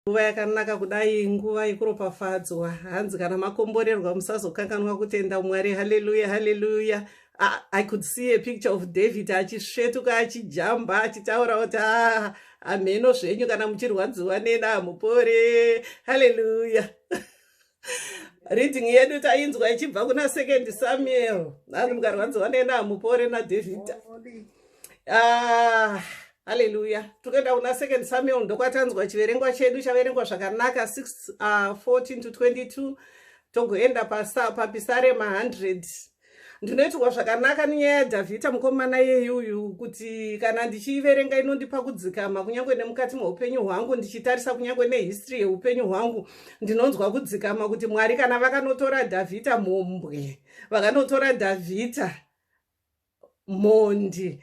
nguva yakanaka kudai nguva yekuropafadzwa hanzi kana makomborerwa musazokanganwa kutenda mwari haleluya haleluya I, i could see a picture of david achisvetuka achijamba achitaura kuti ah, hamheno zvenyu kana muchirwadziwa nena hamupore haleluya reading yedu tainzwa ichibva kuna second samuel nani mukarwadziwa nena hamupore nadhavhidha ah, haleluya tokuenda kuna second samuel ndokwatanzwa chiverengwa chedu chaverengwa zvakanaka 6 14 uh, to 22 togoenda papisarema 100 ndinoitirwa zvakanaka nenyaya yadhavhita mukomana yeyuyu kuti kana ndichiiverenga inondipa kudzikama kunyange nemukati meupenyu hwangu ndichitarisa kunyange nehistory yeupenyu hwangu ndinonzwa kudzikama kuti mwari kana vakanotora dhavhita mhombwe vakanotora dhavhita mhondi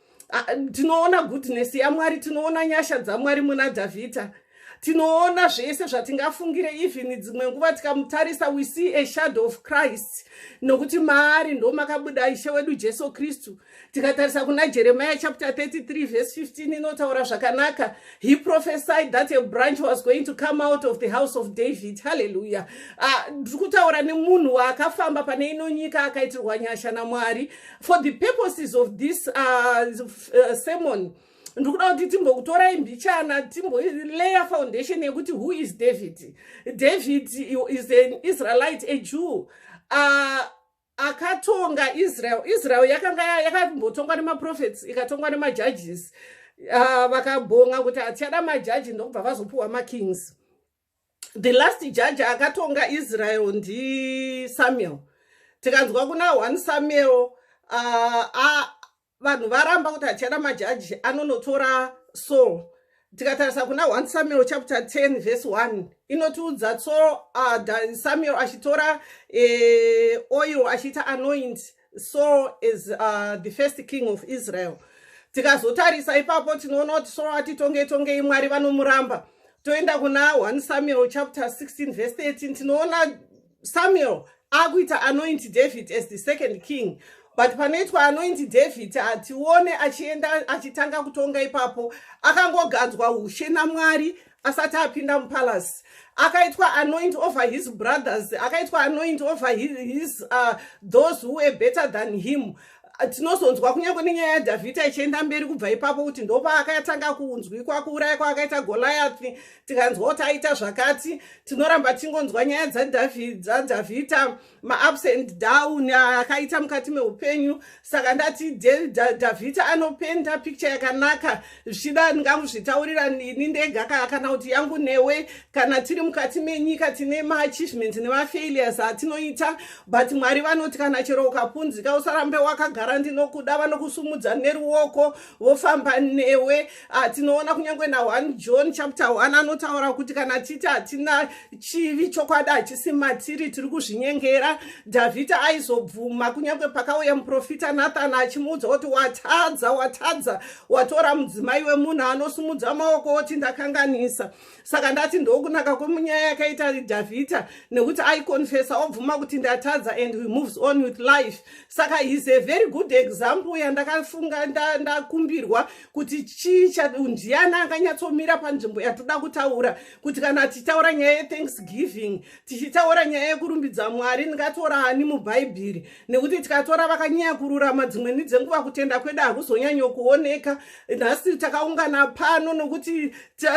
tinoona goodness yamwari tinoona nyasha dzamwari muna dhavhidha tinoona zvese zvatingafungire even dzimwe nguva tikamutarisa we see a shadow of christ nokuti maari ndo makabuda ishe wedu jesu kristu tikatarisa kuna jeremiya chapter 33 verse 15 inotaura zvakanaka he prophesied that a branch was going to come out of the house of david halleluya ah, ndiri uh, kutaura nemunhu waakafamba pane ino nyika akaitirwa nyasha namwari for the purposes of this uh, uh, sermon ndiri kuda kuti timbokutorai mbichana timboleya foundation yekuti who is david david is an israelite a jew uh, akatonga israel israel yakanga yakambotongwa nemaprofets ikatongwa nemajudges uh, vakabhonga kuti hatichada majaji ndokubva vazopiwa makings the last judge akatonga israel ndisamuel tikanzwa kuna one samuel uh, vanhu varamba kuti hatichada majaji anonotora saul tikatarisa kuna one samuel chapter 10 verse 1 inotiudza so uh, samuel achitora eh, oil achiita anoint so as uh, the first king of israel tikazotarisa ipapo tinoona kuti so atitonge tongei mwari vanomuramba toenda kuna 1 samuel chapter 16 verse 13 tinoona samuel akuita anointi david as the second king but panoitwa anointi david hatione achienda achitanga kutonga ipapo akangogadzwa ushe namwari asati apinda mupalace akaitwa anoint over his brothers akaitwa anoint over his, his uh, those who were better than him tinozonzwa kunyange nenyaya yadhavhidha ichienda mberi kubva ipapo kuti ndopaakatanga kunzwikwa kuuraya kwaakaita goliathi tikanzwa kuti aita zvakati tinoramba tingonzwa nyaya dzadhavhidha maups and down akaita mukati meupenyu saka ndati davhita anopenda picture yakanaka zvichida ndinganguzvitaurira nini ndega kana kuti yangu newe kana tiri mukati menyika tine maachievement nemafailures atinoita but mwari vanoti kana chero ukapunzika usarambe wakagara ndinokuda vanokusumudza neruoko vofamba newe Ah, tinoona kunyange na 1 john chapter 1 anotaura kuti kana titi hatina chivi chokwadi hachisi matiri tiri kuzvinyengera dhavhidha aizobvuma kunyange pakauya muprofita nathani achimuudza kuti watadza watadza watora mudzimai wemunhu anosumudza maoko oti ndakanganisa saka ndati ndokunaka kwemunyaya yakaita dhavhidha nekuti aikonfesa obvuma kuti ndatadza and he moves on with life saka he's a very good example yandakafunga ndakumbirwa kuti chii ndiani anganyatsomira panzvimbo yatoda kutaura kuti kana tichitaura nyaya yethanksgiving tichitaura nyaya yekurumbidza mwari ndingatora ani mubhaibheri nekuti tikatora vakanyanya kururama dzimweni dzenguva kutenda kwedu hakuzonyanyokuoneka nhasi takaungana pano nokuti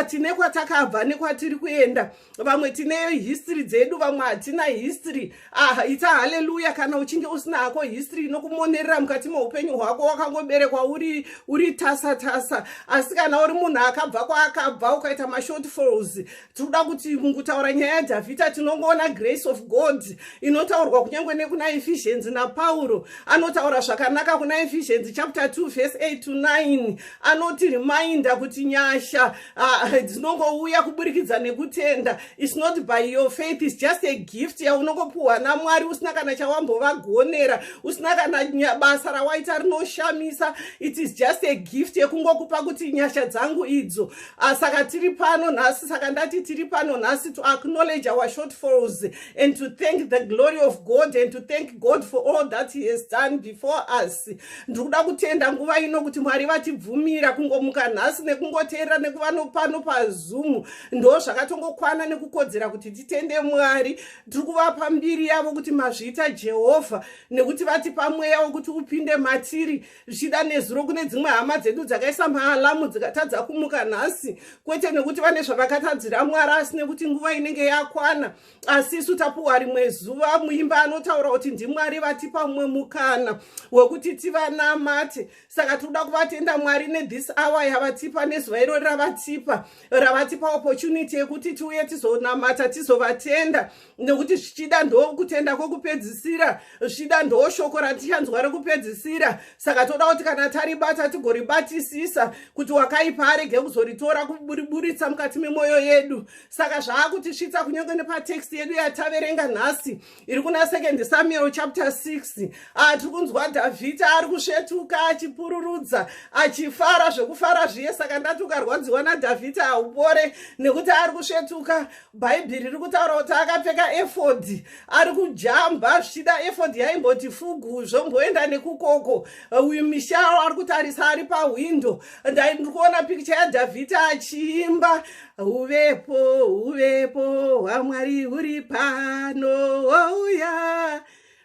tine kwatakabva nekwatiri kuenda vamwe tineyo history dzedu vamwe hatina history ah, ita haleluya kana uchinge usina hako history inokumonerera mukati meupenyu hwako wakangoberekwa uri, uri tasa tasa asi kana uri munhu akabva kwaakabva ukaita mashortfalls tinoda kuti mukutaura nyaya yadhavhita tinongoona grace of god inotaurwa kunyange nekuna efficiency napauro anotaura zvakanaka kuna efficiency chapter 2 verse 8 to 9 anoti reminder kuti nyasha Ah, dzinongouya kuburikidza nekutenda its not by your faith its just a gift yaunongopiwa namwari usina kana chawambovagonera usina kana basa rawaita rinoshamisa it is just a gift yekungokupa kuti nyasha dzangu idzo ah, saka tiri pano nhasi saka ndati tiri pano nhasi to acknowledge our shortfalls and to thank the glory of god and to thank god for all that he has done before us ndiri kuda kutenda nguva ino kuti mwari vatibvumira kungomuka nhasi nekungoteerera nekuva nopano pazoom ndo zvakatongokwana nekukodzera kuti titende mwari tiri kuvapa mbiri yavo kuti mazviita jehovha nekuti vatipa mweya wekuti upinde matiri zvichida nezuro kune dzimwe hama dzedu dzakaisa maalamu dzikatadza kumuka nhasi kwete nekuti vane zvavakatadzira mwari asi nekuti nguva inenge yakwana asi isu tapuwa rimwe zuva muimba anotaura kuti ndimwari vatipa mumwe mukana wekuti tivanamate saka tikuda kuvatenda mwari nethis hour yavatipa nezuva iro ravatipa ravatipa opportunity yekuti tiuye tizonamata tizovatenda nekuti zvichida ndokutenda kwekupedzisira zvichida ndo shoko ratichanzwa rekupedzisira saka toda kuti kana taribata tigoribatisisa kuti wakaipa arege kuzoritora kuburiburitsa mukati memwoyo yedu saka zvaakutisvitsa kunyange nepatext yedu yataverenga nhasi iri kuna second samuel chapter 6 atiri ah, kunzwa dhavhidhi ari kusvetuka achipururudza achifara zvekufara zviye saka ndati ukarwadziwa nadhavhidhi haupore nekuti ari kusvetuka bhaibheri riri kutaura kuti akapfeka efodhi ari kujamba zvichida efodhi yaimboti fugu zvomboenda nekukoko uyu misharo ari kutarisa ari pahwindo ndai ndiri kuona pikicha yadhavhidhi achiimba uvepo uvepo hwamwari huri pano wouya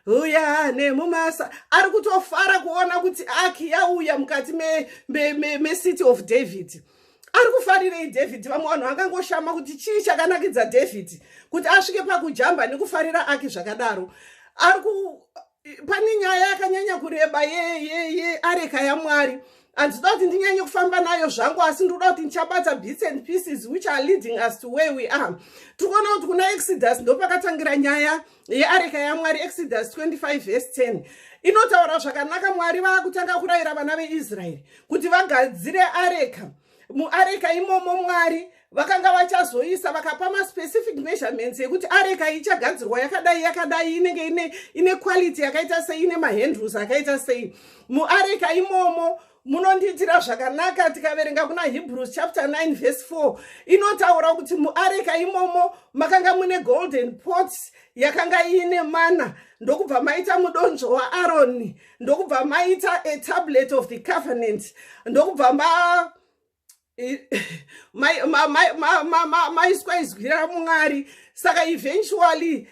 uya nemumasa ari kutofara kuona kuti aki yauya mukati mecity me, me, me of david ari kufarirei david vamwe vanhu vangangoshama kuti chii chakanakidza david kuti asvike pakujamba nekufarira aki zvakadaro ari pane nyaya yakanyanya kureba yeyeye areka yamwari handida kuti ndinyanye kufamba nayo zvangu asi ndikuda kuti ndichabata bits and pieces which are leading us to where we are tikuona kuti kuna exodus ndopakatangira nyaya yeareka yamwari exodus 25 vese 10 inotaura zvakanaka mwari vakutanga kurayira vana veisraeri kuti vagadzire areka muareka imomo mwari vakanga vachazoisa vakapa maspecific measurements ekuti areka ichagadzirwa yakadai yakadai inenge ine, ine quality yakaita sei ine mahandles akaita sei muareka imomo munondiitira zvakanaka tikaverenga kuna hebrews chapter 9 verse 4 inotaura kuti muareka imomo makanga mune golden pots yakanga iine mana ndokubva maita mudonzvo waaroni ndokubva maita a tablet of the covenant ndokubva ma maiswa izwi ramwari saka eventually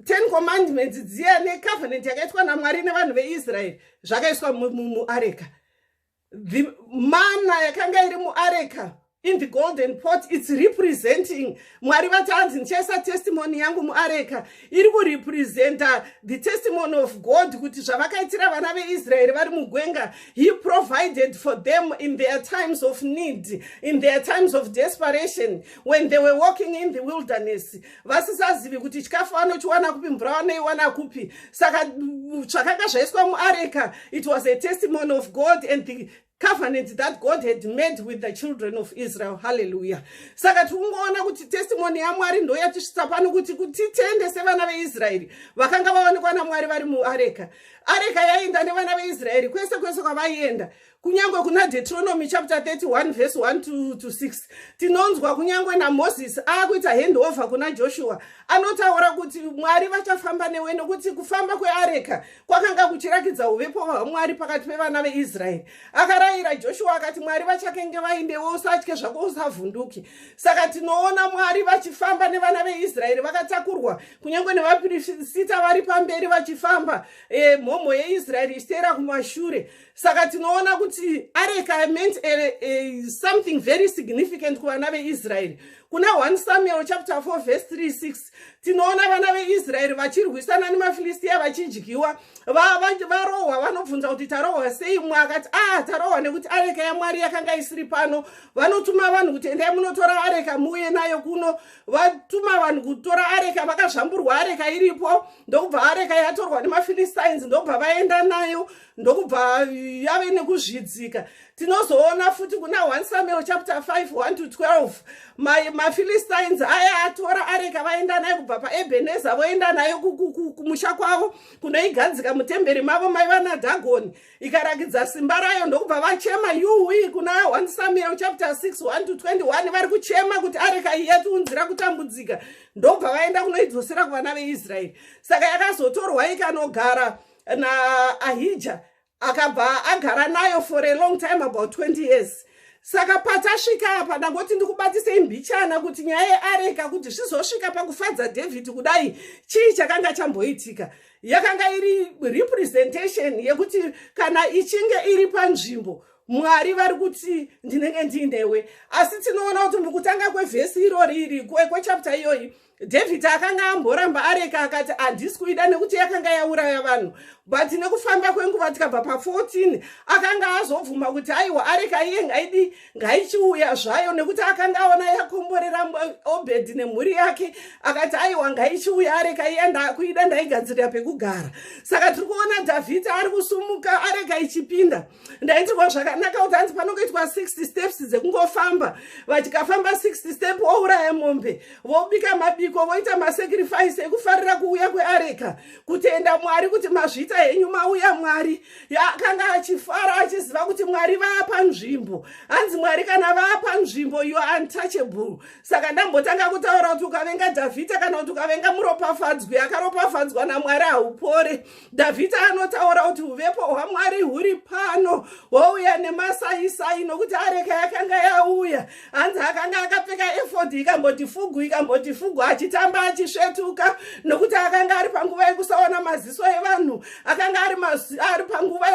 ten commandments dziya necovenant yakaitwa namwari nevanhu veisraeri zvakaiswa muareka the mana yakanga iri muareka in the golden pot its representing mwari vati hanzi ndichaisa testimony yangu muareka iri kurepresenta the testimony of god kuti zvavakaitira vana veisraeri vari mugwenga he provided for them in their times of need in their times of desperation when they were walking in the wilderness vasisazivi kuti chikafu vanochiwana kupi mvura vanoiwana kupi saka zvakanga zvaiswa muareka it was a testimony of god and the covenant that god had made with the children of israel halleluya saka tiri kungoona kuti testimony yamwari ndo yatisvitsa pano kuti kutitende sevana veisraeri vakanga vaonekwa namwari vari muareka areka yaienda nevana veisraeri kwese kwese kwavaienda kunyange kuna deuteronomy chapter 31 verse 1 to, to 6 tinonzwa kunyange namozisi akuita handover kuna joshua anotaura kuti mwari vachafamba newe nokuti kufamba kweareka kwakanga kuchirakidza uvepo hwamwari pakati pevana veisraeri akarayira joshua akati mwari vachakenge vaindewo usatye zvako usavhunduki saka tinoona mwari vachifamba nevana veisraeri vakatakurwa kunyange nevapirisita vari pamberi vachifamba eh, mhomho yeisraeri ichiteera kumashure saka tinoona kuti areka meant a, eh, a, eh, something very significant kuvana veisraeri kuna 1 samuel chapter 4 verse 36 tinoona vana veisraeri vachirwisana nemafilistiya vachidyiwa varohwa vanobvunza kuti tarohwa sei mwe akati a ah, tarohwa nekuti areka yamwari yakanga isiri pano vanotuma vanhu kuti endai munotora areka muuye nayo kuno vatuma vanhu kutora areka vakazvamburwa areka iripo ndokubva areka yatorwa nemafilistines ndokubva vaenda nayo ndokubva yave nekuzvidzika tinozoona futi kuna 1 samuel chapter 5 1 to 12 mafilistines ma aya atora areka vaenda nayo kubva paebeneza voenda nayo kumusha kwavo kunoigadzika mutemberi mavo maiva nadhagoni ikarakidza simba rayo ndokubva vachema yuwi kuna 1 samuel chapter 6 1 to 21 vari kuchema kuti areka iyatiunzira kutambudzika ndobva vaenda kunoidzosera kuvana veisraeri saka yakazotorwa ikanogara naahija akabva agara nayo for a long time about 20 years saka patasvika apa ndangoti ndikubatisei mbichana kuti nyaya yeareka kuti zvizosvika pakufadza david kudai chii chakanga chamboitika yakanga iri representation yekuti kana ichinge iri panzvimbo mwari vari kuti ndinenge ndiinewe asi tinoona kuti mukutanga kwevhesi irori iri kwechapta iyoyi david akanga amboramba areka akati handisi kuida nekuti yakanga yauraya vanhu but nekufamba kwenguva tikabva pa14 akanga azobvuma kuti aiwa areka iye ngaidi ngaichiuya zvayo nekuti akanga aona yakomborera obedi nemhuri yake akati aiwa ngaichiuya areka iye ndakuida ndaigadzirira pekugara saka tiri kuona david ari kusumuka areka ichipinda ndaitirwa zvakanakaudza hanzi panongoitwa 60 steps dzekungofamba vatikafamba 60 step ouraya mombe vobika mabiko voita masacrifice ekufarira kuuya kweareka kutenda mwari kuti mazvita henyu mauya mwari akanga achifara achiziva kuti mwari vaapa nzvimbo hanzi mwari kana vaapa nzvimbo you are untouchable saka ndambotanga kutaura kuti ukavenga dhavhita kana kuti ukavenga muropafadzwi akaropafadzwa namwari haupore dhavhidhi anotaura kuti uvepo hwamwari huri pano houya nemasaisai nokuti areka yakanga yauya hanzi akanga akapfeka efodhi ikamboti fugu ikamboti fugu achitamba achisvetuka nokuti akanga ari panguva yekusaona maziso evanhu akanga ari panguva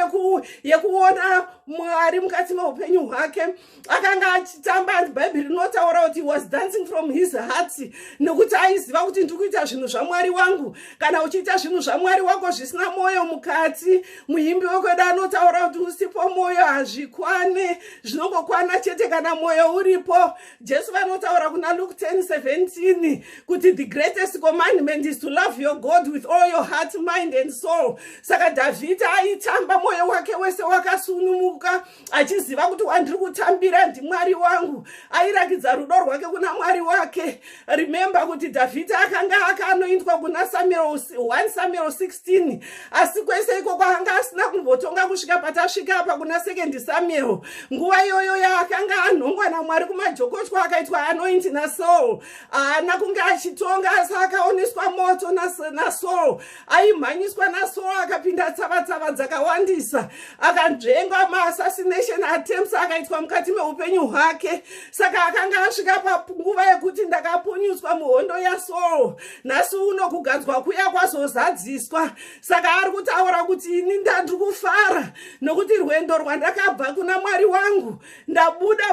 yekuona mwari mukati meupenyu hwake akanga achitamba and bhaibheri rinotaura kuti was dancing from his heart nekuti aiziva kuti ndiri kuita zvinhu zvamwari wangu kana uchiita zvinhu zvamwari wako zvisina mwoyo mukati muimbi wekwedu anotaura kuti usipo mwoyo hazvikwane zvinongokwana chete kana mwoyo uripo jesu vanotaura kuna luk 1017 kuti the greatest commandment is to love your god with all your heart mind and soul saka dhavhidha aitamba mwoyo wake wese wakasunumuka achiziva kuti wandiri kutambira ndimwari wangu airakidza rudo rwake kuna mwari wake remembe kuti dhavhidhi akanga akanoindwa kuna samuel 1 samuel 16 asi kwese iko kwaanga asina kumbotonga kusvika patasvika apa kuna sekendi samuel nguva iyoyo yaakanga anhongwa namwari kumajokotwa akaitwa anoindi nasaul haana kunge achitonga asi akaoneswa moto nasaul aimhanyiswa nasoa akapinda tsavatsava dzakawandisa akanzvenga maassassination attempts akaitwa mukati meupenyu hwake saka akanga asvika panguva yekuti ndakapunyutswa muhondo yasoul nhasi uno kugadzwa kuya kwazozadziswa saka ari kutaura kuti ini ndandiri kufara nokuti rwendo rwandakabva kuna mwari wangu ndabuda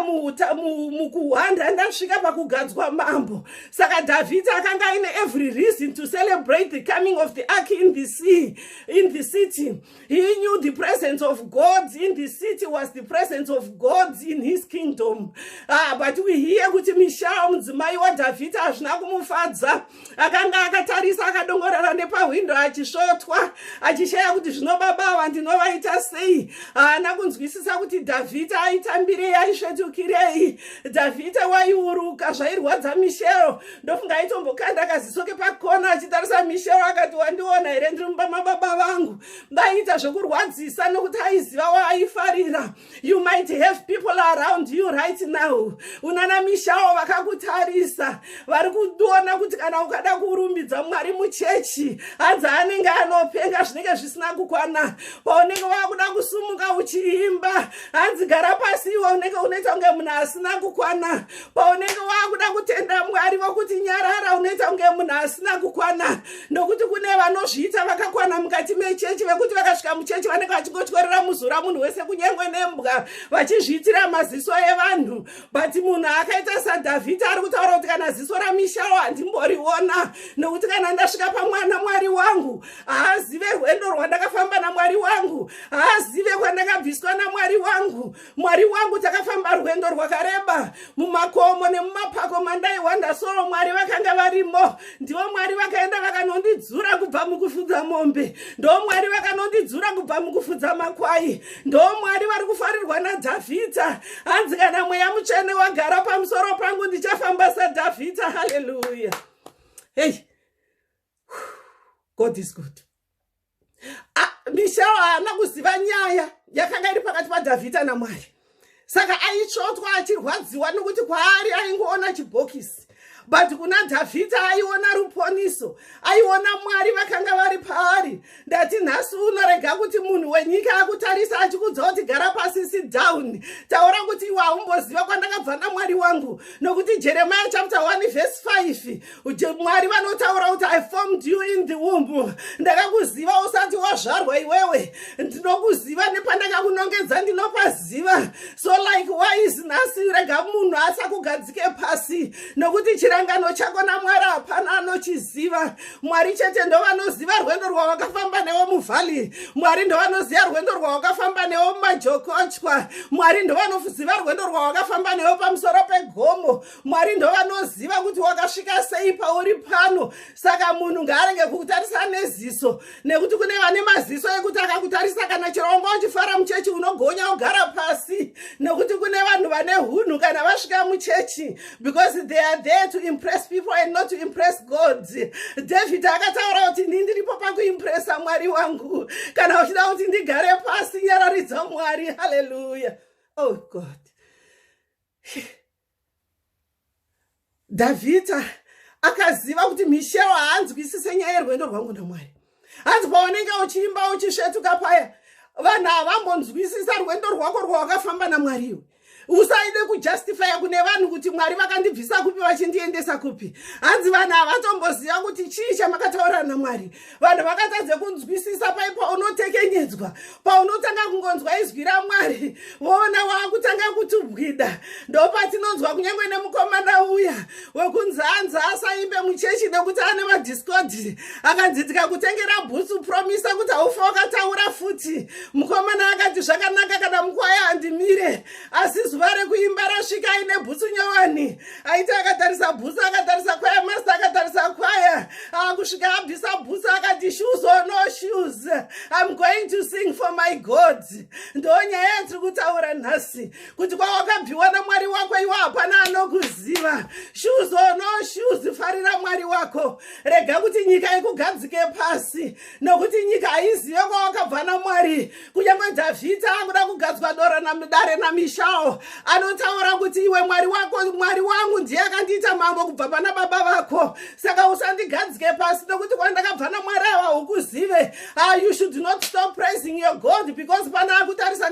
mukuhwanda ndasvika pakugadzwa mambo saka dhavhidhi akanga aine every reason to celebrate the coming of the ark in the sea in the city he knew the presence of god in the city was the presence of god in his kingdom ah, but we hear kuti mishao mudzimai wadhavhidhi hazvina kumufadza akanga akatarisa akadongorera nepahwindo achisvotwa achishaya kuti zvino baba ava ndinovaita sei haana kunzwisisa kuti dhavhita aitambirei aisvetukirei dhavhita waiuruka zvairwadza mishero ndofunga aitombokanda kaziso kepakona achitarisa mishero akati wandiona here ndiri mumba mababa vangu ndaiita zvekurwadzisa nokuti aiziva waaifarira you might have people around you right now unana mishawo vakakutarisa vari kuona kuti kana ukada kurumbidza mwari muchechi hanzi anenge anopenga zvinenge zvisina kukwana paunenge wakuda kusumuka uchiimba hanzi gara pasi iwe unenge unoita kunge munhu asina kukwana paunenge wakuda kutenda mwari vokuti nyarara unoita kunge munhu asina kukwana nokuti kune vanozviita vakakwana mukati mechechi vekuti vakasvika muchechi vanenge vachingotyorera muzura munhu wese kunyange nembwa vachizviitira maziso evanhu but munhu akaita sadhavhidhi ari kutaura kuti kana ziso ramishawo handimboriona nokuti kana ndasvika pamwana mwari wangu haazive rwendo rwandakafamba namwari wangu haazive kwandakabviswa namwari wangu Mwari wangu takafamba rwendo rwakareba mumakomo nemumapako mandaihwanda soo mwari vakanga varimo ndivo mwari vakaenda vakanondidzura kubva mukufudza mombe ndoo mwari vakanondidzura kubva mukufudza makwai ndoo mwari vari kufarirwa nadhavhidha hanzi kana mweya mutsvene wagara pamusoro pangu ndichafamba sadhavhidha haleluya hei god is good mishao haana kuziva nyaya yakanga iri pakati padhavhidha namwari saka aitsvotwa achirwadziwa nokuti kwaari aingoona chibhokisi but kuna dhavhidha aiona ruponiso aiona mwari vakanga vari paari ndati nhasi unorega kuti munhu wenyika akutarisa achikudza kuti gara pasi sit down taura kuti iwe haumboziva kwandakabva namwari wangu nokuti jeremiya chapter 1 vhesi 5 mwari vanotaura kuti i formed you in the womb ndakakuziva usati wazvarwa iwewe ndinokuziva nepandakakunongedza ndinopaziva so like why is nhasi rega munhu asakugadzike pasi nokuti chirangano chako namwari hapana anochiziva mwari chete ndovanoziva rwendo rwawakafamba newo muvhali mwari ndovanoziva rwendo rwawakafamba newo mumajokochwa mwari ndovanoziva rwendo rwawakafamba newo pamusoro pegomo mwari ndovanoziva kuti wakasvika sei pauri pano saka munhu ngaarenge kukutarisa neziso nekuti kune vane maziso ekuti akakutarisa kana chero wanga uchifara muchechi unogonya ogara pasi nekuti kune vanhu vane hunhu kana vasvika muchechi because they are there to impress people and not to impress god david akataura kuti ndi ndiripo pakuimpresa mwari wangu kana uchida kuti ndigare pasi nyararidza mwari haleluya oh god Davita akaziva kuti Michelle haanzwisise nyaya yerwendo rwangu naMwari. Hanzi paunenge uchiimba uchisvetuka paya, vanhu havambonzwisisa rwendo rwako rwawakafamba naMwari iwe. Usaide kujustifya kune vanhu kuti Mwari vakandibvisa kupi vachindiendesa kupi. Hanzi vanhu havatomboziva kuti chii chamakataurana naMwari. vanhu vakatadze kunzwisisa pai paunotekenyedzwa paunotanga kungonzwa izwi ramwari voona waakutanga kutubwida ndopatinonzwa kunyange nemukomana uya wekunzi anzi asaimbe muchechi nekuti ane madiscodi akanzi tikakutengera bhutsu promisa kuti haufa wakataura futi mukomana akati zvakanaka kana mukwaya handimire asi zuva rekuimba rasvika aine bhutsu nyowani aiti akatarisa bhusa akatarisa kwaya masta akatarisa kwaya akusvika ah, abvisa bhusa akati shoes or no shoes im going to sing for my god ndo nyaya yatiri kutaura nhasi kuti kwawakabviwa namwari wako iwo hapana anokuziva shoes or no shoes farira mwari wako rega kuti nyika ikugadzike pasi nokuti nyika haizive kwawakabva namwari kunyange dhavhidhi akuda kugadzwa dora namudare namishawo anotaura kuti iwe mwari wako mwari wangu ndiye akandiita mambo kubva pana baba vako saka usandigadzike pasi nokuti kwandakabva namwari ava hukuzive ah, you should not stop praising your god because pana akutarisa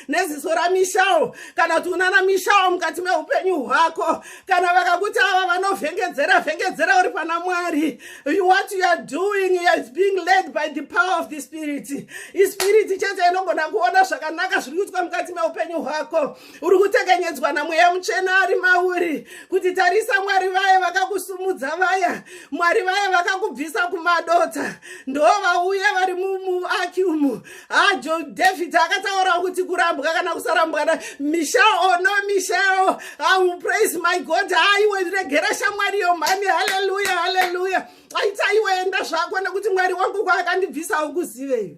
neziso ramishawo kana kuti unana mishawo mukati meupenyu hwako kana vakakuti ava vanovhengedzera vhengedzera uri pana mwari what you are doing is being led by the power of the spirit ispirit chete inogona kuona zvakanaka zviri kuitwa mukati meupenyu hwako uri kutekenyedzwa namweya muchena ari mauri kuti tarisa mwari vaye vakakusumudza vaya mwari vaye vakakubvisa kumadota ndo vauya vari muaki umu hajo ah, david akataurawo kuti kurambwa kana kusarambwana michel o oh, no michel au ah, praise my god haiwe ah, regera shamwariyo mhani haleluya haleluya aita iwe enda zvako nekuti mwari wangu kwaakandibvisa ukuziveyo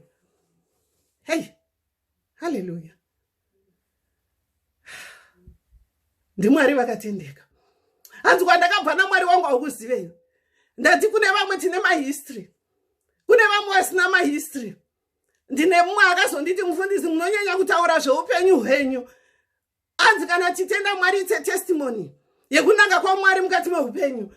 hei haleluya ndimwari vakatendeka hanzi kwandakabva namwari wangu aukuzivei ndati kune vamwe tine mahistory kune vamwe vasina mahistory ndine mumwe akazonditi mufundisi munonyanya kutaura zveupenyu hwenyu anzi kana titenda mwari ite testimony yekunanga kwamwari mukati meupenyu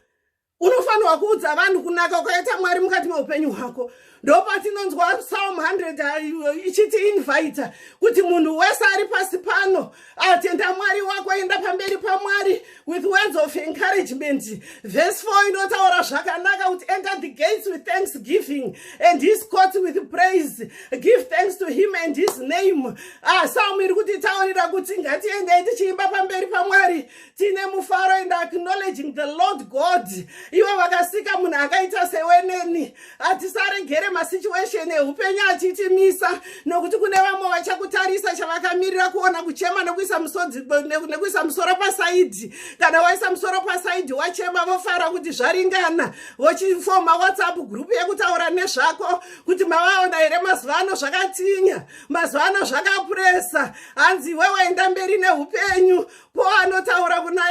unofanirwa kuudza vanhu kunaka ukaita mwari mukati meupenyu hwako ndopatinonzwa psalm 100 ichiti invita kuti munhu wese ari pasi pano atenda mwari wako enda pamberi pamwari with words of encouragement verse 4 inotaura zvakanaka kuti enter the gates with thanksgiving and his court with praise give thanks to him and his name ah, psalm iri kutitaurira kuti ngatiendei tichiimba pamberi pamwari tine mufaro and acknowledging the lord god iwe vakasika munhu akaita seweneni hatisaregere masituation eupenyu achitimisa nokuti kune vamwe vachakutarisa chavakamirira kuona kuchema nekuisa musodzi nekuisa musoro pasaidhi kana waisa musoro pasaidhi wachema vofara kuti zvaringana vochifoma whatsapp group yekutaura nezvako kuti mavaona here mazuva ano zvakatinya mazuva ano zvakapuresa hanzi iwe waenda mberi neupenyu paul anotaura kuna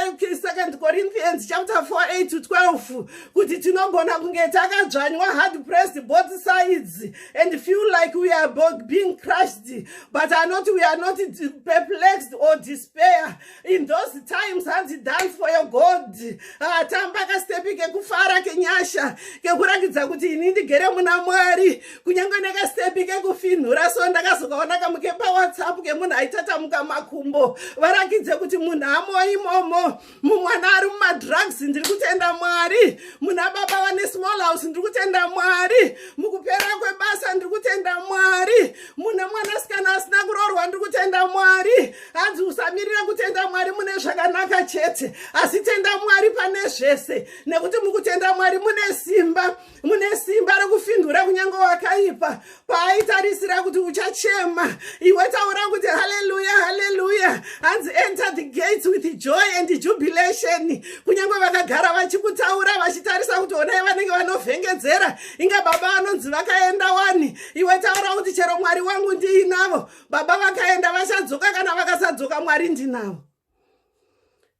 second corinthians chapter 48 to 12 kuti tinogona kunge takadzvanywa hard pressed both sides and feel like we are being crushed but anoti we are not perplexed or despair in those times hanzi dance for your god atamba ah, kastepi kekufara kenyasha kekurakidza kuti ini ndigere muna mwari kunyange nekastepi kekufinhura so ndakazokaona kamu kepawhatsapp kemunhu aitatamuka makumbo varakidze kuti munhu amo imomo mumwana ari mumadrugs ndiri kutenda mwari muna baba vane small house ndiri kutenda mwari mukupera kwebasa ndiri kutenda mwari mune mwanasikana asina kuroorwa ndiri kutenda mwari hanzi usamirira kutenda mwari mune zvakanaka chete asi tenda mwari pane zvese nekuti mukutenda mwari mune simba mune simba rekufindura kunyange wakaipa paaitarisira kuti uchachema iwe taura kuti haleluya haleluya hanzi enter the gates with joy and jubilation kunyange vakagara vachikutaura vachitarisa kuti onai vanenge vanovhengedzera inga baba vanonzi vakaenda wani iwe taura kuti chero mwari wangu ndiinavo baba vakaenda vachadzoka kana vakasadzoka mwari ndinavo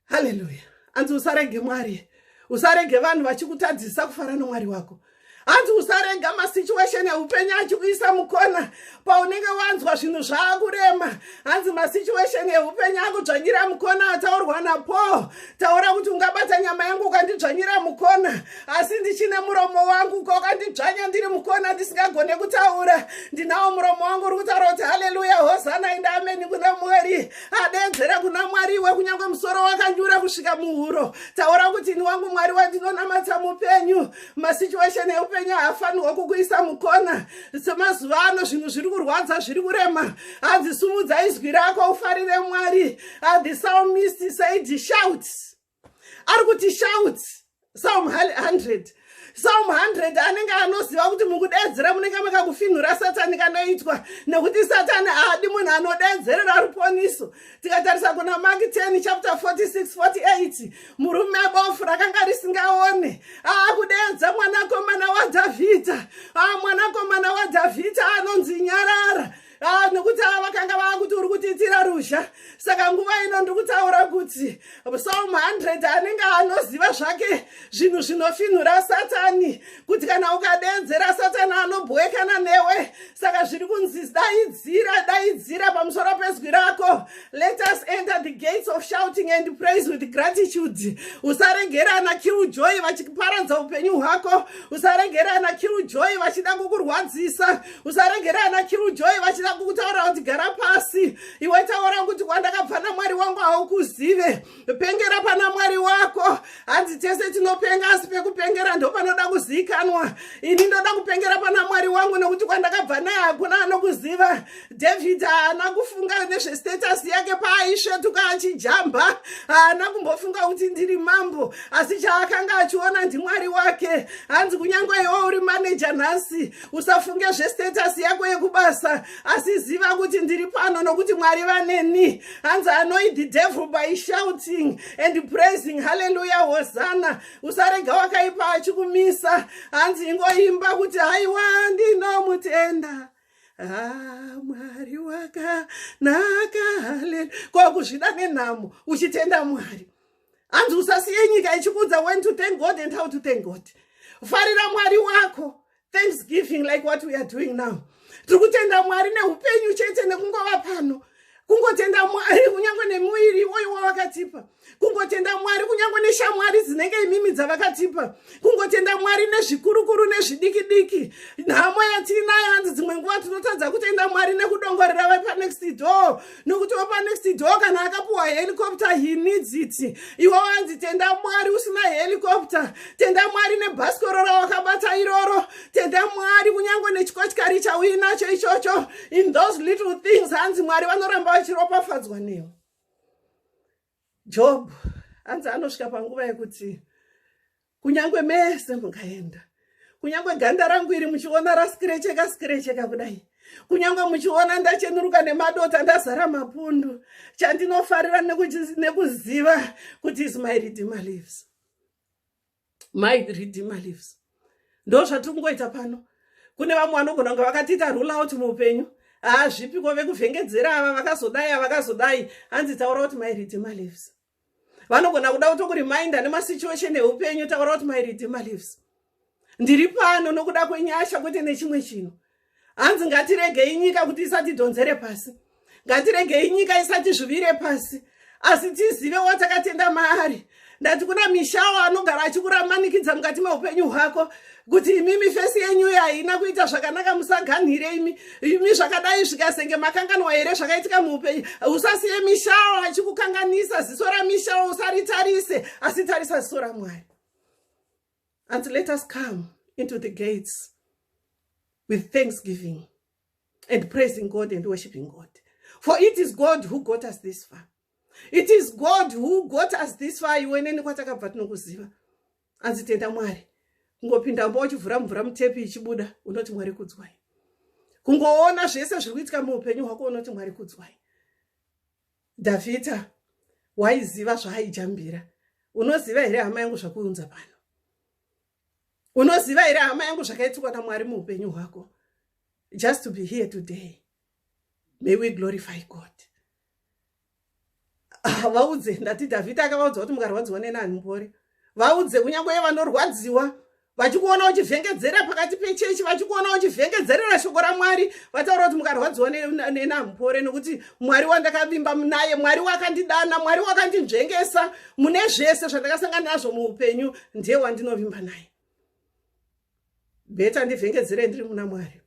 haleluya hanzi usarege mwari usarege vanhu vachikutadzisa kufara nomwari wako hanzi usarega masituation eupenyu achikuisa mukona paunenge wanzwa zvinhu zvaakurema hanzi masituation eupenyu akudzvanyira mukona ataurwa napaul taura kuti ungabata nyama yangu ukandidzvanyira mukona asi ndichine muromo wangu uka ukandidzvanya ndiri mukona ndisingagone kutaura ndinawo muromo wangu uri kutaura kuti haleluya hosana inda ameni kuna mwari adeedzere kuna mwari iwe kunyange musoro wakanyura kusvika muhuro taura kuti ini wangu mwari wandinonamata mupenyu masituation eupenyu haafanirwa kukuisa mukona semazuva ano zvinhu zviri kurwadza zviri kurema hadzisumudza izwi rako ufarire mwari adhisalmisti said shouts ari kuti shout psalm 100 psalm 100 anenge anoziva kuti mukudeedzera munenge makakufinhura satani kanoitwa nekuti satani haadi munhu anodeedzerera ruponiso tikatarisa kuna mak 10 chapter 46 48 murume bofu rakanga risingaone aakudeedza mwanakomana wadhavhidha aa mwanakomana wadhavhidha anonzi nyarara Ah, nokuti ava vakanga vava kuti uri kutiitira ruzha saka nguva ino ndiri kutaura kuti psalm 100 anenge anoziva zvake zvinhu zvinofinhura satani kuti kana ukadeedzera satani anobhowekana newe saka zviri kunzi daidzira daidzira pamusoro pezwi rako let us enter the gates of shouting and praise with gratitude usaregerana killjoy vachiparadza upenyu hwako usaregerana killjoy vachida kukurwadzisa usaregere ana kirujoy vachida kutaura kuti gara pasi iwe taura kuti kwandakabva namwari wangu haukuzive pengera pana mwari wako hanzi tese tinopenga asi pekupengera ndo panoda kuziikanwa ini ndoda kupengera pana mwari wangu nekuti kwandakabva naye hakuna anokuziva david haana kufunga nezvestatus yake paaisvetuka achijamba haana kumbofunga kuti ndiri mambo asi chaakanga achiona ndimwari wake hanzi kunyange iwo uri maneja nhasi usafunge zvestatus yako yekubasa asi ziva kuti ndiri pano nokuti mwari vaneni hanzi anoid the devil by shouting and praising halleluya hosana usarega wakaipa achikumisa hanzi ingoimba kuti haiwa ndinomutenda Ah, mwari wakanaka haleluya ko kuzvida nenhamo uchitenda mwari hanzi usasiye nyika ichikuudza when to thank god and how to thank god farira mwari wako thanksgiving like what we are doing now tiri kutenda mwari neupenyu chete nekungova pano kungotenda mwari kunyange nemuviri iwoyo wavakatipa kungotenda mwari kunyange neshamwari dzinenge imimi dzavakatipa kungotenda mwari nezvikurukuru nezvidiki diki nhamo yatiinayo hanzi dzimwe nguva tinotadza kutenda mwari nekudongorera vepanext door nokuti wapanext door kana akapuwa helicopter he needs it iwe wanzi tenda mwari usina helicopter tenda mwari nebhasikoro rawakabata iroro tenda mwari kunyange nechikotyari chauinacho ichocho in those little things hanzi mwari vanoramba vachiropafadzwa newe Job hanzi anosvika panguva yekuti kunyange mese mukaenda kunyange ganda rangu iri muchiona raskirecheka skirecheka kudai kunyange muchiona ndachenuruka nemadota ndazara mapundu chandinofarira nekuziva kuti is my redeemer lives my redeemer lives ndo zvatiri kungoita pano kune vamwe vanogona kunge vakatiita rule out muupenyu haa zvipiko vekuvhengedzera ava vakazodai ava vakazodai hanzi taura kuti my redeemer lives vanogona kuda kutokuriminda nemasituation eupenyu taura kuti my redeemer lives ndiri pano nokuda kwenyasha kwete nechimwe chinhu hanzi ngatiregei nyika kuti isatidhonzere pasi ngatiregei nyika isatizvuvire pasi asi tizive watakatenda maari ndati kuna mishawo anogara achikuramannikidza mukati meupenyu hwako kuti imimi fesi yenyu iyo haina kuita zvakanaka musaganhire imi imi zvakadai zvikasenge makanganwa here zvakaitika muupenyu usasiye mishawo achikukanganisa ziso ramishawo usaritarise asi tarisa ziso ramwari Hanzi let us come into the gates with thanksgiving and praising God and worshiping God. For it is God who got us this far. It is God who got us this far. You went in what I got but no kuziva. As it enda mwari. Kungopinda mbo uchivhura mvura mutepi ichibuda unoti mwari kudzwai. Kungoona zvese zviri kuitika muupenyu hwako unoti mwari kudzwai. Davita waiziva zvaaijambira. Unoziva here hama yangu zvakuunza pano? Unoziva here hama yangu zvakaitikwa naMwari muupenyu hwako? Just to be here today. May we glorify God. Ah, vaudze ndati Davita akavaudza kuti mukarwadziwa nenani mbori. Vaudze kunyange vanorwadziwa vachikuona uchivhengedzera pakati pechechi vachikuona uchivhengedzerera shoko ramwari vataura kuti mukarwadziwa nenamupore nekuti mwari wandakavimba naye mwari wakandidana mwari wakandinzvengesa mune zvese zvandakasangana nazvo muupenyu ndiye wandinovimba naye bheta ndivhengedzere ndiri muna mwari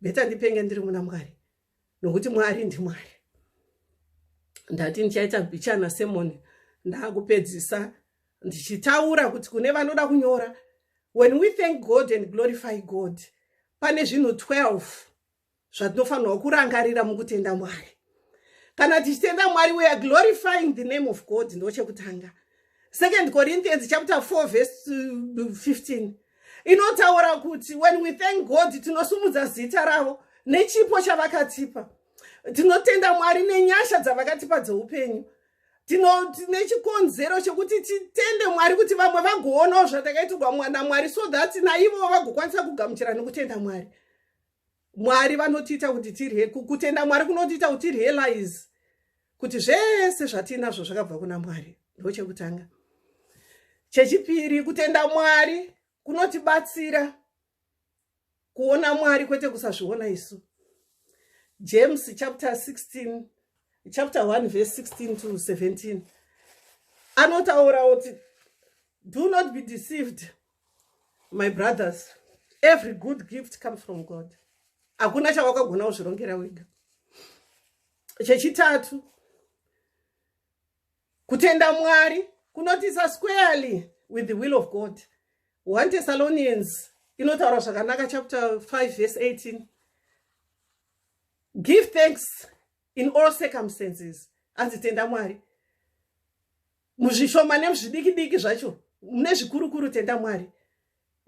bheta ndipenge ndiri muna mwari nokuti mwari ndimwari ndati ndichaita bichana semoni ndakupedzisa ndichitaura kuti kune vanoda kunyora when we thank god and glorify god pane zvinhu 12 zvatinofanirwa kurangarira mukutenda mwari kana tichitenda mwari weare glorifying the name of god ndochekutanga second corinthians chapter 4 verse 15 uh, inotaura kuti when we thank god tinosumudza zita ravo nechipo chavakatipa tinotenda mwari nenyasha dzavakatipa dzeupenyu tine chikonzero chekuti titende mwari kuti vamwe vagoonawo zvatakaitirwa mwana mwari so that naivowo vagokwanisa kugamuchira nekutenda mwari mwari vanotiita kuti tirye kutenda mwari kunotiita kuti tirealize kuti zvese zvatiinazvo zvakabva kuna mwari ndo chekutanga chechipiri kutenda mwari kunotibatsira kuona mwari kwete kusazviona isu james chapter 16 chapter 1 verse 16 to 17 anotaura kuti do not be deceived my brothers every good gift comes from god hakuna chawakagona kuzvirongera wega chechitatu kutenda mwari kunotisa squarely with the will of god one thessalonians inotaura zvakanaka chapter 5 verse 18 give thanks in all circumstances anzi tenda mwari muzvishoma nemuzvidiki diki zvacho mune zvikurukuru tenda mwari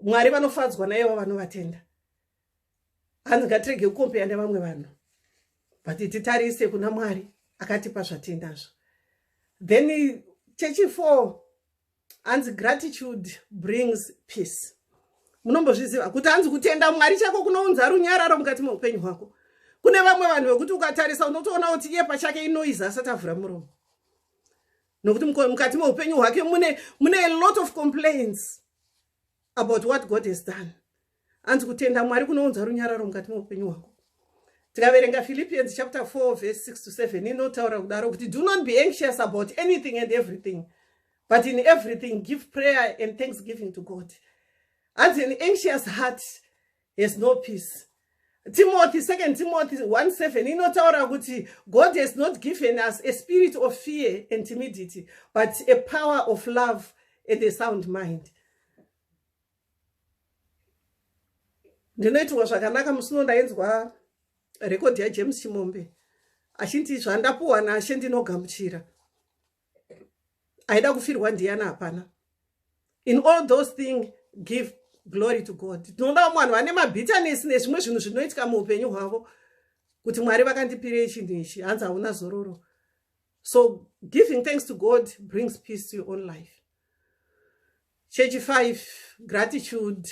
mwari vanofadzwa naivo vanovatenda hanzi ngatirege kukompeya nevamwe vanhu but titarise kuna mwari akatipa zvatendazvo then chechifo hanzi gratitude brings peace munombozviziva kuti hanzi kutenda mwari chako kunounza runyararo mukati meupenyu hwako kune vamwe vanhu vekuti ukatarisa unotoona kuti iye pachake inoiza asati avhura muromo nokuti mukati meupenyu hwake mune mune a lot of complaints about what god has done hanzi kutenda mwari kunounza runyararo mukati meupenyu hwako tikaverenga philippians chapter 4 verse 6 to 7 inotaura kudaro kuti do not be anxious about anything and everything but in everything give prayer and thanksgiving to god hanzi an anxious heart has no peace timothy second timothy 17 inotaura kuti god has not given us a spirit of fear and timidity but a power of love and a sound mind ndinoitirwa zvakanaka musi uno ndainzwa rekodhi yajames chimombe achinti zvandapuwa nashe ndinogamuchira aida kufirwa ndiyana hapana in all those thing give glory to god tinoda vamwe vanhu vane mabitanesi nezvimwe zvinhu zvinoitika muupenyu hwavo kuti mwari vakandipirei chinhu ichi hanzi hauna zororo so giving thanks to god brings peace to your own life chechi 5 gratitude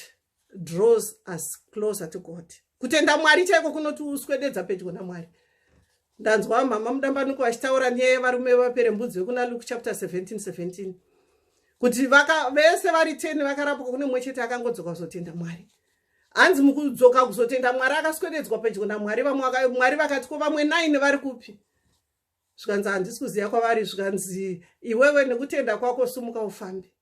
draws us closer to god kutenda mwari chaiko kunoti uswededza pedyo namwari ndanzwa mhama mudambanuko vachitaura nyaya yevarume vapere mbudzi vekuna luke chapter 17 17 kuti vaka vese vari 10 vakarapwa kune mumwe chete akangodzoka kuzotenda mwari hanzi mukudzoka kuzotenda mwari akaswededzwa pedyo namwari vamwe mwari vakati ko vamwe 9 vari kupi zvikanzi handisi kuziva kwavari zvikanzi iwewe nekutenda kwako sumuka ufambe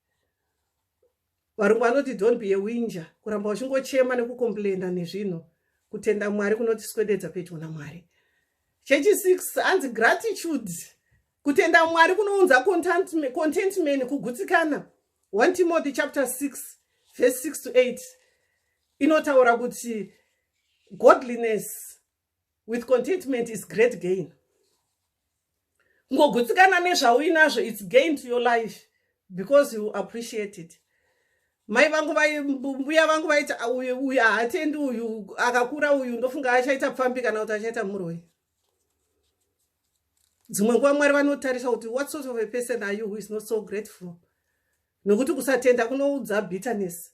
Varungu vanoti don't be a winja, kuramba uchingochema nekukomplaina nezvinhu. Kutenda Mwari kunotiswededza pedyo naMwari. Chechi 6 hanzi gratitude. Kutenda Mwari kunounza contentment, kugutsikana. 1 Timothy chapter 6 verse 6 to 8 inotaura kuti godliness with contentment is great gain ngogutsikana nezvauinazvo its gain to your life because you appreciate it mai vangu mbuya vangu vaiti ah, uyu haatendi uyu akakura uyu ndofunga achaita pfambi kana kuti achaita muroi dzimwe nguva mwari vanotarisa kuti what sort of a person are you who is not so grateful nokuti kusatenda kunoudza bitterness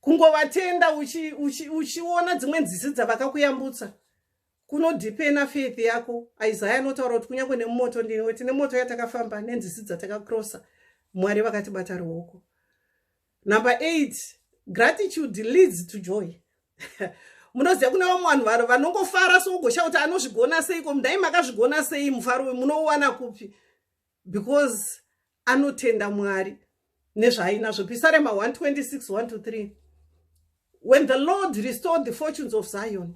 kungovatenda uchiona uchi, uchi dzimwe nzizi dzavakakuyambutsa kunodhipena faith yako isaya anotaura kuti kunyange nemumoto ndinwe tine moto yatakafamba nenzizi dzatakakrosa mwari vakatibata ruoko number eight gratitude leads to joy munoziva kune vamwe vanhu varo vanongofara sougosha kuti anozvigona seiko mdai makazvigona sei mufaro munouwana kupi because anotenda mwari nezvaainazvo pisarema 126 1 to 3 when the lord restored the fortunes of zion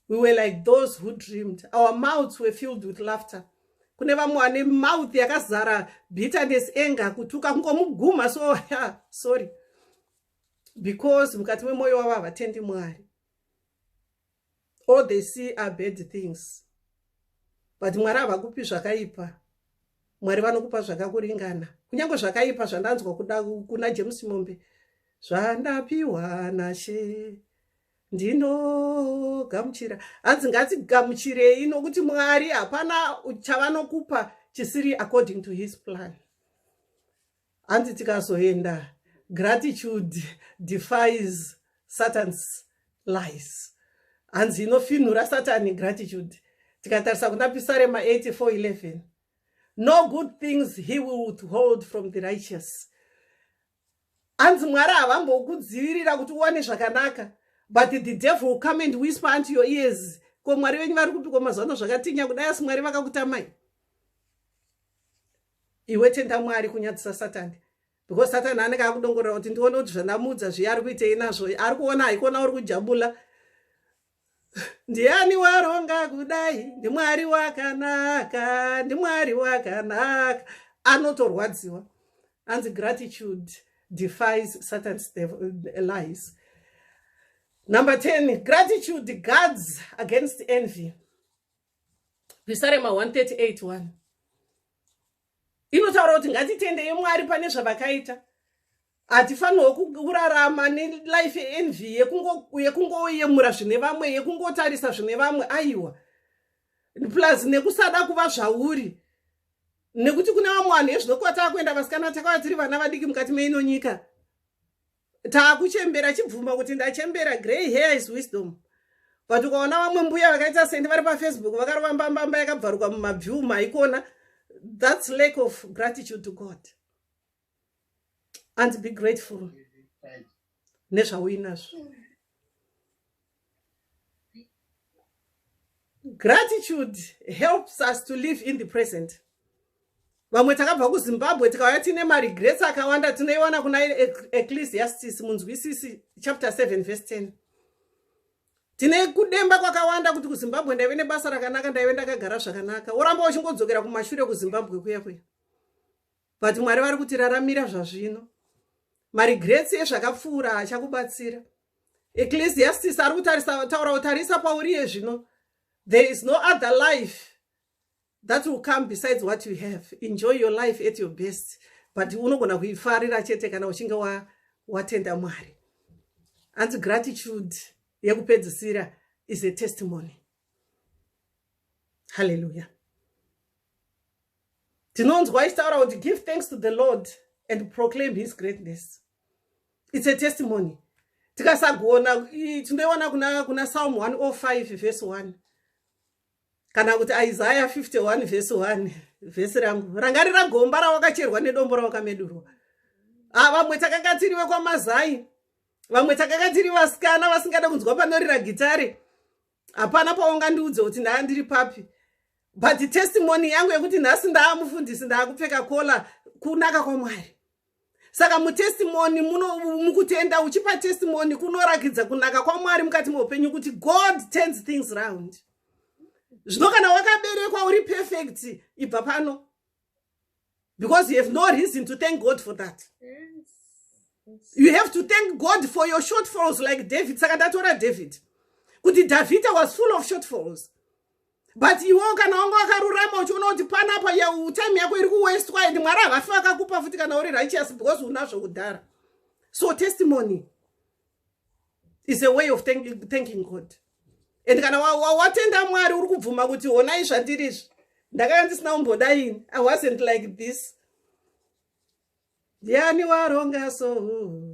we were like those who dreamed our mouths were filled with laughter kune vamwe vane mouth yakazara bitterness anger kutuka kungomuguma so yeah, sorry because mukati memwoyo wavo havatendi mwari all they see are bad things but mwari havakupi zvakaipa mwari vanokupa zvakakuringana kunyange zvakaipa zvandanzwa kuda kuna james mombe zvandapiwa nashe ndinogamuchira hanzi ngatigamuchirei nokuti mwari hapana chavanokupa chisiri according to his plan Hanzi tikazoenda gratitude defies Satan's lies. Hanzi inofinhura Satan gratitude. Tikatarisa kuna Pisarema 84:11. No good things he will withhold from the righteous. Hanzi Mwari havambokudzivirira kuti uwane zvakanaka but the devil will come and whisper unto your ears ko mwari venyu vari kupiko mazuva ano zvakatinya kudai asi mwari vakakutamai iwe tenda mwari kunyadzisa satani because satani anenge akudongorera kuti ndione kuti zvandamuudza zviya ari kuitei nazvo ari kuona haikuona uri kujabula ndiani waronga kudai ndimwari wakanaka ndimwari wakanaka anotorwadziwa anzi gratitude defies satans eh, lies number 10 gratitude guards against envy pisarema 138 1 inotaura kuti ngatitendeye mwari pane zvavakaita hatifanirwo kurarama nelife envy yekungoyemura zvine vamwe yekungotarisa zvine vamwe aiwa plus nekusada kuva zvauri nekuti kune vamwe vanhu ezvinokuva tava kuenda vasikana takava tiri vana vadiki mukati meino nyika takuchembera chibvuma kuti ndachembera grey hair is wisdom but ukaona vamwe mbuya vakaita sendi vari pafacebook vakarova mbambamba yakabvaruka mumabview maikona that's lack of gratitude to god and be grateful nezvauinazvo gratitude helps us to live in the present vamwe takabva kuzimbabwe tikauya tiine maregrets akawanda tinoiwana kuna ecclesiastis munzwisisi chapter 7 verse 10 tine kudemba kwakawanda kuti kuzimbabwe ndaive nebasa rakanaka ndaive ndakagara zvakanaka woramba uchingodzokera kumashure kuzimbabwe kuya kuya but mwari vari kutiraramira zvazvino maregrets ezvakapfuura achakubatsira ecclesiastis ari kutarisa taura kutarisa pauriye zvino there is no other life that will come besides what you have enjoy your life at your best but unogona kuifarira chete kana uchinge watenda mwari hanzi gratitude yekupedzisira is a testimony hallelujah tinonzwa ichitaura kuti give thanks to the lord and proclaim his greatness its a testimony tikasagona tinoiona kuna, kuna salm 105 vhesi 1 kana kuti isaya 51 vhesi 1 vhesi rangu rangarira gomba rawakacherwa nedombo rawakamedurwa ah, vamwe takanga tiri vekwamazai vamwe takanga tiri vasikana vasingada kunzwa panorira gitare hapana paungandiudze kuti ndaa ndiri papi but testimony yangu yekuti nhasi ndaa mufundisi ndaa kupfeka kola kunaka kwamwari saka mutestimony mukutenda uchipa testimony kunorakidza kunaka kwamwari mukati meupenyu kuti god turns things round zvino kana wakaberekwa uri perfect ibva pano because you have no reason to thank god for that yes. Yes. you have to thank god for your shortfalls like david saka ndatora david kuti davhida was full of shortfalls but iwewo kana wanga wakarurama uchiona kuti panapa time yako iri kuwestwa and mwari havafi vakakupa futi kana uri righteous because unazvo kudhara so testimony is a way of thanking, thanking god and kana watenda wa, wa mwari uri kubvuma kuti honai zvandiri izvi ndakanga ndisina kumboda ini i wasn't like this ndiani waronga so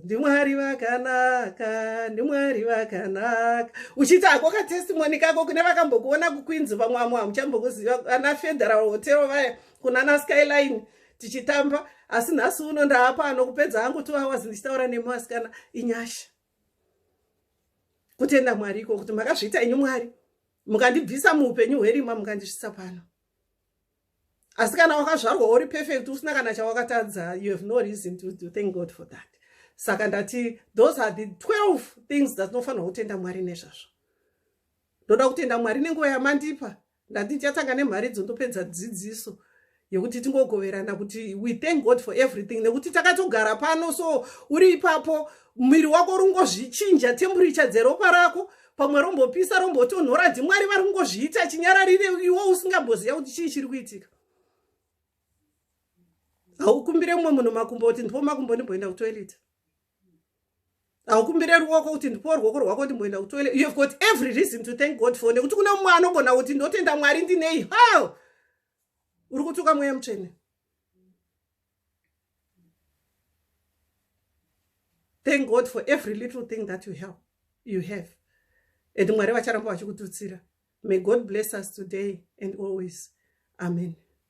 ndimwari vakanaka ndimwari vakanaka uchiita hako katestimoni kako kune vakambokuona kuqueens vamwe vamwe hamuchambokuziva ana federal hotel vaya kunana skyline tichitamba asi nhasi uno ndaapa anokupedza hangu two hours ndichitaura nemi vasikana inyasha kutenda mwari iko kuti makazviita inyu mwari mukandibvisa muupenyu hwerima mukandisvisa pano asi kana wakazvarwa uri perfect usina kana chawakatadza you have no reason to, to thank god for that saka ndati those are the 12 things dzatinofanirwa kutenda mwari nezvazvo ndoda kutenda mwari nenguva yamandipa ndati ndichatanga nemharidzo ndopedza dzidziso yekuti tingogoverana kuti we thank god for everything nekuti takatogara pano so uri ipapo muviri wako uri kungozvichinja temburicha dzeropa rako pamwe rombopisa rombotonhora ndimwari vari kungozviita chinyararire iwo usingamboziva kuti chii chiri kuitika haukumbire mumwe munhu makumbo kuti ndipo makumbo ndimboenda kutoilet haukumbire ruoko kuti ndipowo ruoko rwako ndimboenda kutoilet you have got every reason to thank god for nekuti kune mumwe anogona kuti ndotenda mwari ndinei how uri kutuka mweya mutsvene thank god for every little thing that you have, you have. and mwari vacharamba vachikututsira may god bless us today and always amen